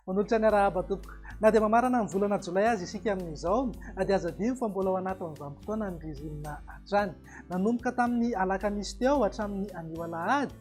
Manolotra ny arahaba tompoko. Na dia mamarana ny volana jolay aza isika amin'izao dia aza adino fa mbola ao anatin'ny vanim-potoanan'ny ririnina hatrany. Nanomboka tamin'ny alakamisy teo hatramin'ny anio alahady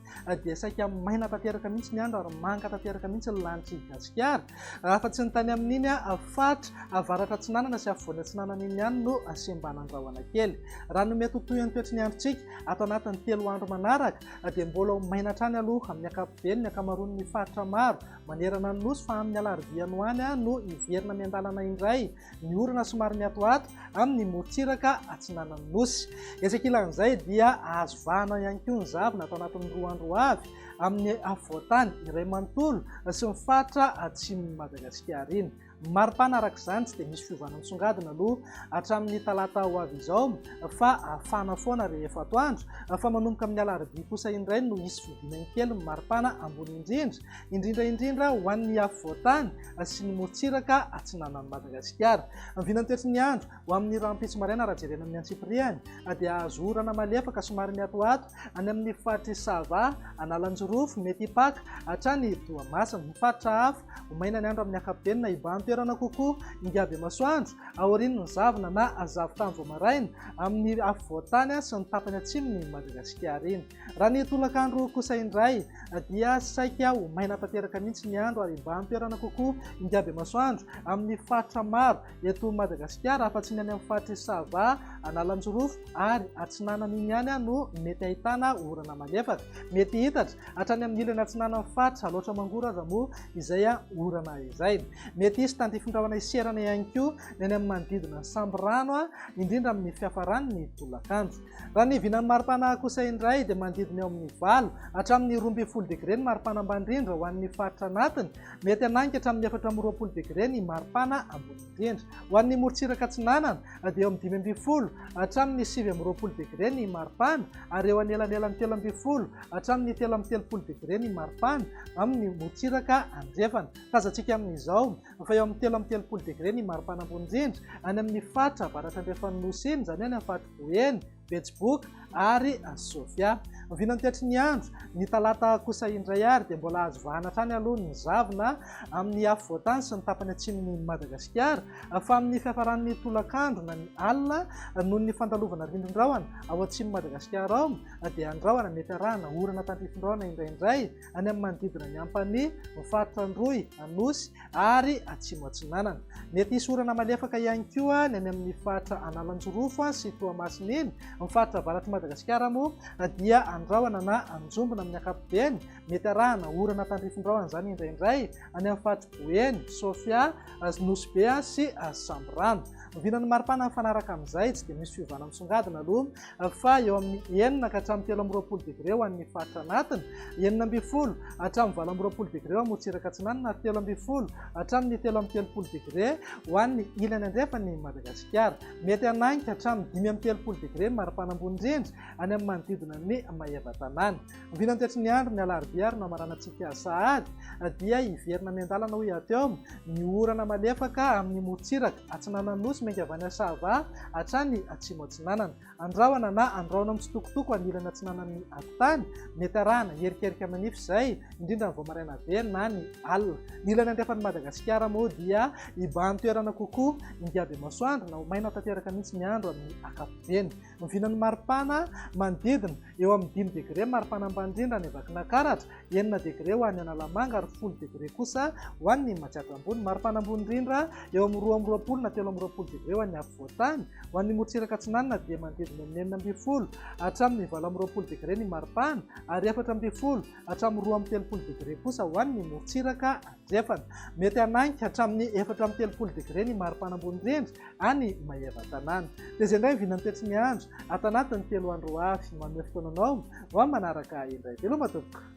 dia saika maina tanteraka mihitsy ny andro ary manga tanteraka mihitsy ny lanitr'i Gasikara. Raha afa-tsy ny tany amin'iny faritra avaratra atsinanana sy afovoany atsinanana iny ihany no sembanandrahona kely. Raha ny mety ho tohin'ny toetry ny androntsika ato anatin'ny telo andro manaraka dia mbola ho maina hatrany aloha amin'ny ankapobeny ny ankamaroan'ny faritra maro manerana ny Nosy fa amin'ny alarobia any ho any no hiverina miandalana indray ny orana somary mihatohato amin'ny morontsiraka atsinanan'ny Nosy. Etsy ankilan'izay dia azo vahana ihany koa ny zavona atao anatin'ny roa andro ho avy amin'ny afovoan-tany iray manontolo sy ny faritra atsimon'i Madagasikara iny. Mari-pana araka izany tsy dia misy fiovana misongadina aloha hatramin'ny talata ho avy izao fa hafana foana rehefa atoandro fa manomboka amin'ny alarobia kosa indray no hisy fodiana kely ny mari-pana ambony indrindra indrindra indrindra ho an'ny afovoan-tany sy ny morontsiraka atsinanan'i Madagasikara. Amin'ny vinanteritry ny andro, ho amin'ny rahampitso maraina raha jerena amin'ny antsipirihany, dia hahazo orana malefaka somary mihatohato any amin'ny faritr'i Sava, Analanjirofo, Metipaka, hatrany Toamasina. Ny faritra hafa, ho maina ny andro amin'ny ankapobeny na hibahan-toerana kokoa ingahy-bemasoandro, aorian'ny zavona na zavon-tany vao maraina, amin'ny afovoan-tany sy ny tapany atsimon'i Madagasikara iny. Raha ny tolakandro kosa indray dia saika ho maina tanteraka mihitsy ny andro ary mba an-toerana kokoa ingabemasoandro amin'ny faritra maro eto Madagasikara afa-tsy ny any amin'ny faritr'i Sava, Analanjirofo ary Atsinanana iny ihany no mety ahitana orana malefaka. Mety hihitatra hatrany amin'ny ilany atsinanan'ny faritra Alaotra Mangoro aza moa izay orana izay. Mety hisy tandifin-drahona hiserana ihany koa ny any amin'ny manodidina ny sambirano indrindra amin'ny fiafaran'ny tolakandro. Raha ny vinan'ny maripana kosa indray dia manodidina eo amin'ny valo hatramin'ny roa ambin'ny folo degre ny maripana ambany indrindra ho an'ny faritra anatiny. Mety hanainga hatramin'ny efatra amby roapolo degre ny maripana ambony indrindra. Ho an'ny morontsiraka atsinanana dia eo amin'ny dimy ambin'ny folo hatramin'ny sivy amby roapolo degre ny maripana ary eo anelanelan'ny telo ambin'ny folo hatramin'ny telo amby telopolo degre ny maripana amin'ny morontsiraka andrefana. Tazantsika amin'izao fa eo amin'ny telo amby telopolo degre ny maripana ambony indrindra any amin'ny faritra avaratra andrefan'ny Nosy iny, izany any amin'ny faritra Eny, Betsiboka ary Sofia. Vinantetry ny andro, ny talata kosa indray ary dia mbola azo vahana hatrany aloha ny zavona amin'ny afovoantany sy ny tapany atsimon'i Madagasikara fa amin'ny fiafaran'ny tolakandro na ny alina noho ny fandalovana rindrin-drahona ao atsimon'i Madagasikara ao dia andrahona mety arahana orana tandrifindrahona indraindray any amin'ny manodidina ny Ampanihy, ny faritra Androy, Anosy ary Atsimo Atsinanana. Mety hisy orana malefaka ihany koa ny any amin'ny faritra Analanjirofo sy Toamasina iny. Ny faritra avaratr'i Madagasikara moa dia andrahona na anjombona amin'ny ankapobeny. Mety arahana orana tandrifin-drahona izany indraindray any amin'ny faritr'i Boeny, Sofia, Nosy Be sy Samborano. Oviana no maripana mifanaraka amin'izay? Tsy dia misy fiovana misongadina aloha. faha eo amin'ny enina ka hatramin'ny telo amby roapolo degre ho an'ny faritra anatiny, enina ambin'ny folo hatramin'ny valo amby roapolo degre eo Amorontsiraka Atsinanana ary telo ambin'ny folo hatramin'ny telo amby telopolo degre ho an'ny ilany andrefan'i Madagasikara. Mety hanagny ka hatramin'ny dimy amby telopolo degre ny maripana ambony indrindra any amin'ny manodidina ny maevatanàna. Oviana ny toetry ny andro ny alarobia ary no hamaranantsika sahady dia hiverina miandalana ho hiatiao ny orana malefaka amin'ny morontsiraka. Atsinanan'ny Nosy miainga avy any Sahava hatrany Atsimo Atsinanana. Andrahona na andrahona mitsitokotoko anilany atsinanan'ny Akontany. Mety arahana herikerika manify izay, indrindra ny vao maraina very na ny alina. Ny ilany andrefan'i Madagasikara moa dia ibahan-toerana kokoa, ingahy Bemasoandro, na ho maina tanteraka mihitsy ny andro amin'ny ankapobeny. Novinan'ny maripana manodidina, eo amin'ny dimy degre maripana ambany indrindra any Vakinankaratra, enina degre ho an'ny Analamanga ary folo degre kosa ho an'ny Imajaja Ambony. Maripana ambony indrindra, eo amin'ny roa amby roapolo na telo amby roapolo degre ho an'ny afovoantany. Ho an'ny morotsiraka atsinanana dia manodidina amin'ny enina ambin'ny folo hatramin'ny valo amby roapolo degre ny maripana ary efatra ambin'ny folo hatramin'ny roa amby telopolo degre kosa ho an'ny morotsiraka atsinanana. Jefana. Mety hanagny hatramin'ny efatra amby telopolo degre ny maripana ambony rindry any Maevatanàna. Tezia indray ny vinan'ny toetry ny andro ato anatin'ny telo andro ho avy. Manome fotoana anao ho amin'ny manaraka indray. Veloma tompoko!